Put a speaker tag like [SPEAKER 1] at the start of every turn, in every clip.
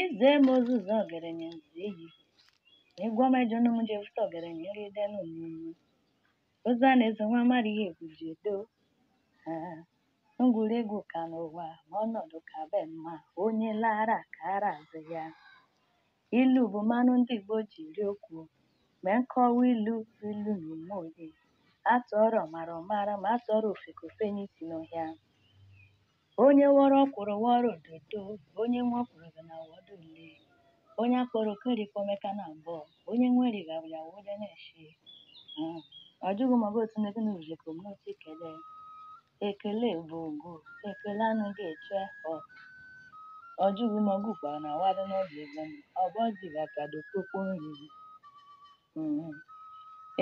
[SPEAKER 1] Ize m ozuzo ogerenye nzu ehi, egwu ọma ejọ nụ m ji efute ogerenye nri ede nụ m nnu. Ozu a na-ezo nwa mara ihe egwu ji edo. Ah, ngwuregwu ka n'ụwa ma ọnọdụ ka be mma onye laara ka ara azụ ya. Ilu bụ mmanụ ndị Igbo ji eri okwu. Ma nkọwa ilu bụ ilu na ume onye. A tụọrọ ọmara ọ mara ma a tụọrọ ofeke o fenye isi n'ọhịa. Onye wọrọ ọkwụrụ wọrọ ododo, onye nwe ọkwụrụ ga na-awọdụ ole. Onye a kpọrọ oku eri kwọma eka naabọ, onye nwe eri ga ya wụde n'eshi. Mm. Ọ jụghị ma ọ bụ otu ndị gịnị rụrụ ka omume otu ekele. Ekele bụ ụgwọ, ekele anaghị eche ọ. Ọ jụghị ma ọgụ kwara na wadụ n'obi ebe m, ọ bụ ọjị ga ka dokpokpo nri. Mm.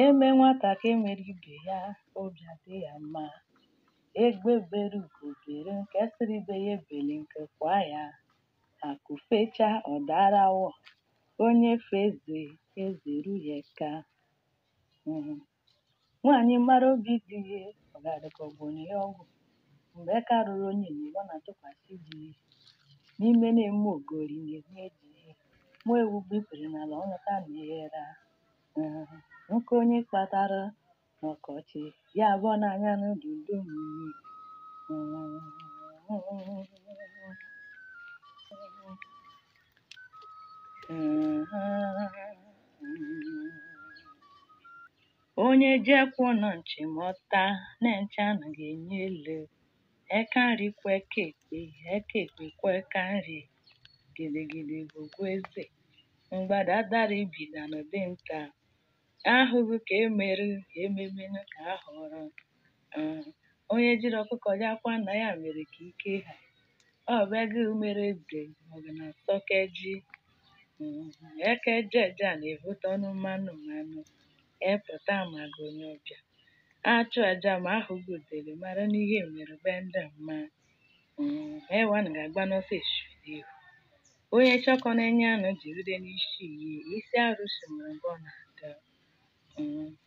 [SPEAKER 1] E mee nwata ka e mere ibe ya, obi adị ya mma. Egbe bere ugo bere nke sịrị ibe ya ebeli nku kwaa ya. Akụ fechaa ọ daara awọ, onye fee eze, eze eru ya eka. Mhm. Nwaanyị mara obi di ya, ọ ga-adị ka ọ gwọrọ ya ọgwụ. Mgbe eka ruru onyenye bụ ọ na-atụkwasị di ya. N'ime na-eme ogori na-enye di ya. Nwa ewu gbuo ikpere n'ala, ọ ṅụta nne ya era. Mhm. Nkụ onye kpatara ọkọchị ya bụ ọ na-anya n'udu udu mmiri onye jekwuo na nchi mọta na nchi anaghị enye ele eka nri kwọọ eka ekpe eka ekpe kwọọ eka nri gidigidi bụ ugwu eze mgbada dara ibi danara dinta ahụghị ka e mere e meme nụ ka a hụrụ ah, onye jiri ọkụkọ je akwa nna ya mere ka ike ha ọ bịaghị mere eze ma ọ bụ na sọkeji eka eja eja na-ebute ọnụ mmanụ mmanụ epụta amaghị onye ọbịa a chụọ aja ma ahụghị udele mara na ihe mere be ndị mma Ewu anaghị agba n'ọsọ eshiri ihu. Onye chọkọ na-enye anụ jiride n'isi iyi isi arụsị nwere mgbe ọ na-aga.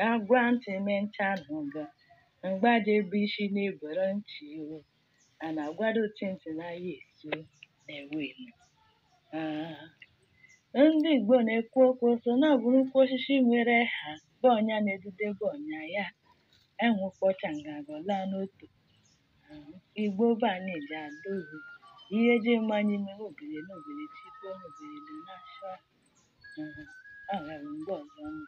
[SPEAKER 1] A gwa ntị ma nchị anụga mgbe a ja-ebe isi na-ebere ntị o. A na-agwado ochi ntị na aya esu na-ewe enu. Ndị Igbo na-ekwu okwu sị na ọ bụrụ ukwu osisi nwere aha bụ onye na-edudebe ọnya ya. Ewu kpachaa nganga ọ laa n'otu. Igbo be anyị ji ada ohu. Ihe ji mma anyị mere obere na obere chikwa na obere dị n'afọ. Ọ ghara mgbe ọzọ ọnụ.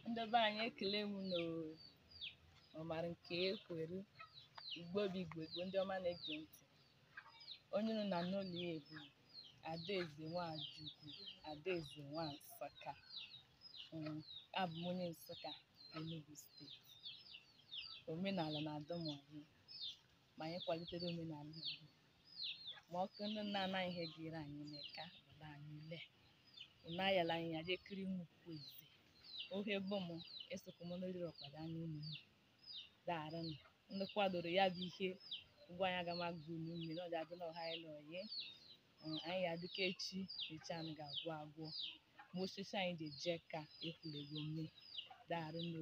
[SPEAKER 1] Ndị be anyị ekele m unu ọmara nke ekwere Igbo bụ Igbo Igbo ndị ọma na-ege ntị onye nọ na n'ụlọ ya bụ Adaeze Nwajukwu Adaeze nwa Nsụka Mm, abụ m onye Nsụka Enugu steeti omenala na-adụ m ọyị ma anyị kwalitere omenala Igbo ma ọ bụ ndị nna nna anyị ihe ga-ere anyị n'eka ụlọ anyị ule unu ayala anyị ya jee kiri m ukwu eze ohe bụ m esokwa m n'oriri ọkpa da anyị ụmụ daarụnụ ndị kwadoro ya bụ ihe ụgwọ anyị aga m agụ unu mmiri ọ ga-adị na ọha anyị na ọyị Mm, anyị ya-adị ka echi echi anaghị agwụ agwụ ma osisi anyị ji eje ka ekwulego mme daarụnụ